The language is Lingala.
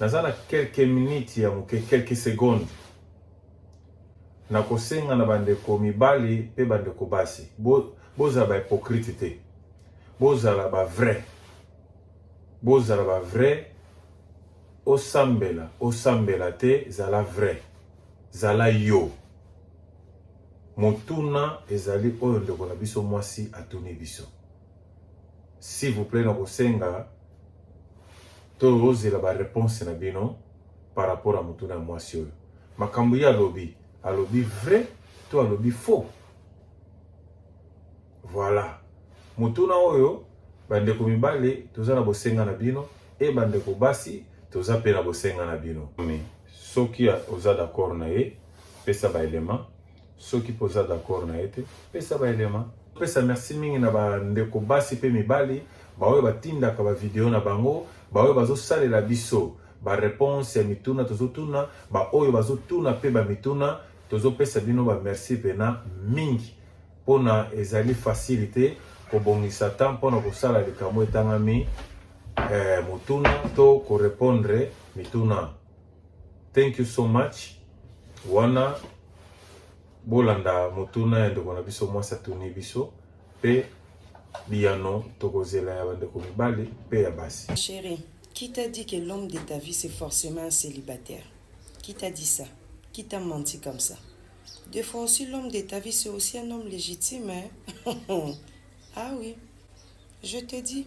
naza na quelques minutes ya moke quelques secondes nakosenga na bandeko mibali mpe bandeko basi bozala ba hypocrite te bozala ba vrai bozala ba vrai osambela osambela te zala vrai zala yo motuna ezali oyo ndeko na biso mwasi atuni biso S'il vous plaît, nakosenga tozela ba réponse na bino par rapport à motuna ya mwasi oyo. Makambo ye alobi, alobi vrai to alobi faux? Voilà. Motuna oyo bandeko mibale toza na bosenga na bino e bandeko basi toza mpe na bosenga na bino. Soki oza d'accord na ye, pesa ba element Soki mpe oza d'accord na ye te, pesa ba elema. Pesa merci mingi na ba ndeko basi mpe mibali baoyo batindaka ba video na bango, baoyo bazosalela biso ba reponse ya mituna tozotuna, baoyo bazotuna mpe ba mituna tozopesa bino ba merci pena mingi mpona ezali fasili te kobongisa temps mpona kosala likambo etangami eh, motuna to korepondre mituna. Thank you so much. Wana bolanda motuna ya ndeko na biso mwasi atuni biso pe biyano tokozela ya bandeko mibali pe ya basi. Chérie, qui t'a dit que l'homme de ta vie c'est forcément un célibataire? Qui t'a dit ça? Qui t'a menti comme ça? Des fois aussi, l'homme de ta vie, c'est aussi un homme légitime. Hein? ah oui, je te dis.